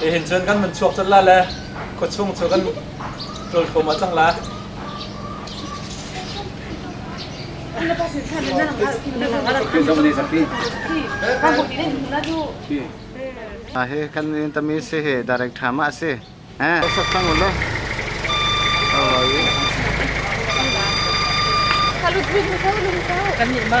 Hihin cun kan vun chuak colh lai le khuachung cu kan ṭulthum ah cang lai. Ha hi kan Vietnamese hi direct tham ah a si. Eh, sak cang ulaw. Salut, lum kau, lum kau. Kan nih ma.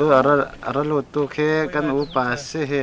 Tu ara lo tu khi kan upa si hi.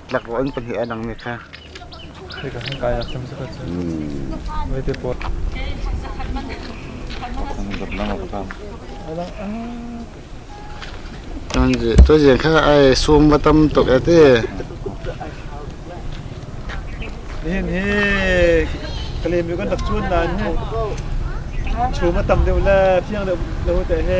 tlak an pahnih a dangmi kha tu jian kha ai sum va tam tuk a ti nihin hi kalem yu kan rak chun nan chu ma tam deuh le phiang deuh lo te he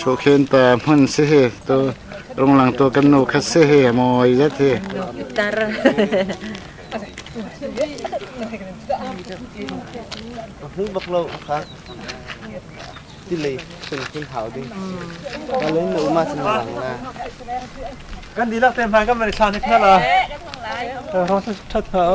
Shokhen ta hman si hi to runglang to kan no khat si hi moi zat hi tar Mu bak lo khak tilei kun kun hau ding Kalau ni uma senang lah Kan di lak tem hang kan mari sa ni khala Rasa chat hau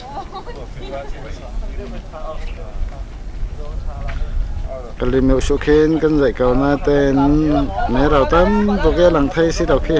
Ka lim u khin kan zai ko na ten me rau tam bu ke lang thai si dok hi.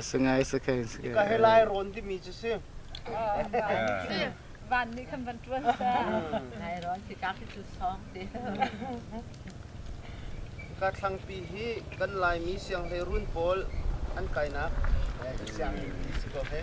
Sangai sakai sakai. Ka he lai rawn dimi cu si. Van nih khan van tuan sa. Lai rawn khi ka khi cu song te. Ka thlangpi hi kan Laimi sianghlei run pawl an kainak sianginn si ko he.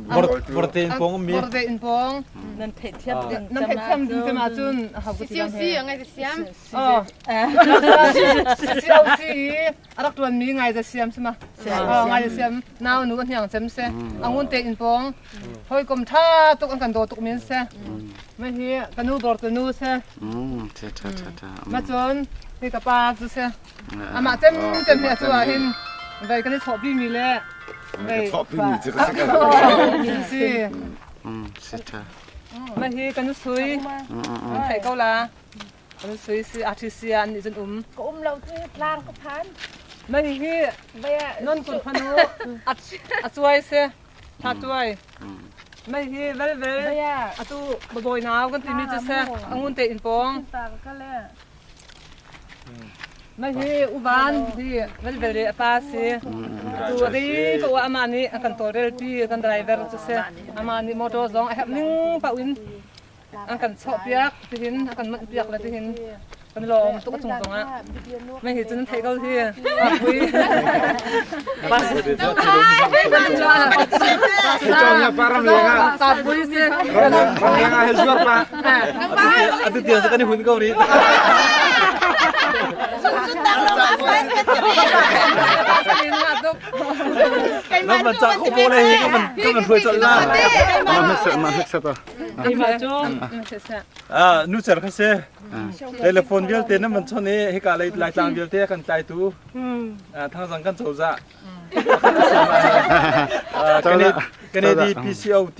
Vorte in pong mi. Vorte in pong nan pheh thiam din. Nan pheh thiam din tem ahcun a hau ko ti lang he. Si ngai te siam. Oh. Siau si a rak tuan mi ngai te siam sima. Oh ngai te siam. Nau nu a hniang cem se. Angun te in pong. Hoi kom tha tuk an kan do tuk min se. Ma hi kanu dor te nu se. Mm, cha cha cha cha. Ma chon, hi ka pa tu se, Amah cem cem hna cu ah hin vei kan i chawhpi mi le vei chawhpi mi cu ka si si sita ma hi kan sui thei ko la kan sui si artist ah an nih cun um ka um lo tu tlang ka phan ma hi non kun phanu a chuai se tha tuai mai hi velvel atu baboy nau kan timi chu se angun te in pong Mahi uvan hi velvele a pa si. Tu ri ko ama nih a kan tawlrel pi kan driver cu si. Ama nih motor zong a herh ning pau in an kan chawh piak tihin a kan manh piak le tihin kan lawm tuk a chung zong ah. Mai hi cun thei ko hi a pui. Bas. Cang ya param luang ah. Ka pui si. Ram luang ah zuar pa. A tu tiang kan i hun ko ri. Nan man cak ko bo le hi kan man kan man hruai chol la. Mah hnekset mah hnekset ah. À, nu cher kha se. Telephone vialte nan man chon e hika lai lai tlang vialte kan tlai tu. À thang zang kan chawza. Kan Canada. Canada PCOT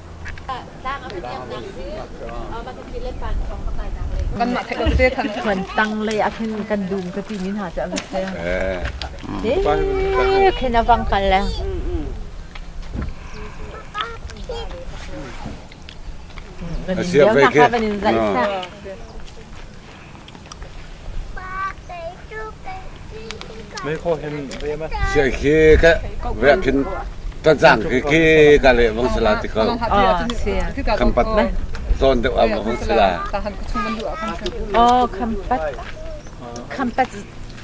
Kanmah theih lo tete than. Kan tanglei a khin kan dum ka ti ni hna cu a vat se. Eh, khin a bang kal le. Siap vei ke. Van in zai sa. Cia khi ka veh phin ka zang khi khi ka leh vang sala ti ko. Kan pat na zawn deuh am vang sala. Oh, khampat. Khampat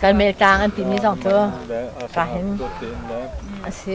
kan meh tlang an timi zong cu ka hin a si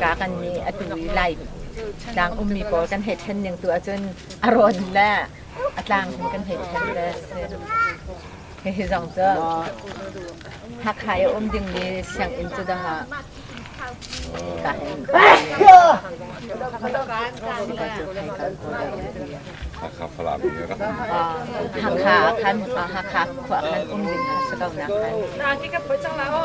ka kan nih a tu i lai tlang ummi pawl kan hei ṭhen ning tu ahcun a rawn le a tlang hin kan hei ṭhen le hihi zong cu Hakha i um dingmi sianginn cu dang ah ka hei Hakha Falam in ra. Hakha khan Hakha khua khan um ding kha si ko nak khan. Na ki ka poi chang la o.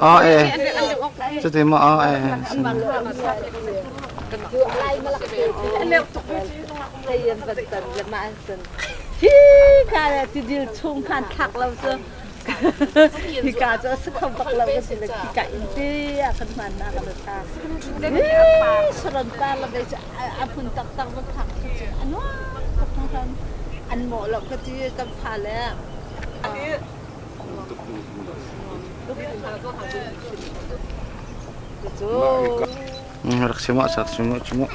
Ah eh. Cuti ma ah eh. Hi kala tidil chung khan thak lo cu Hika cu a si kho bak lo ka si le hika in te a kan hmannak a ta. Saron par le cu a hmun taktak va phak cu cu a nuam ka hmuham an mawh lo ka ti kan fa le rak si ma sak si ma ci ma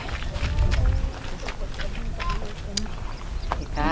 Hika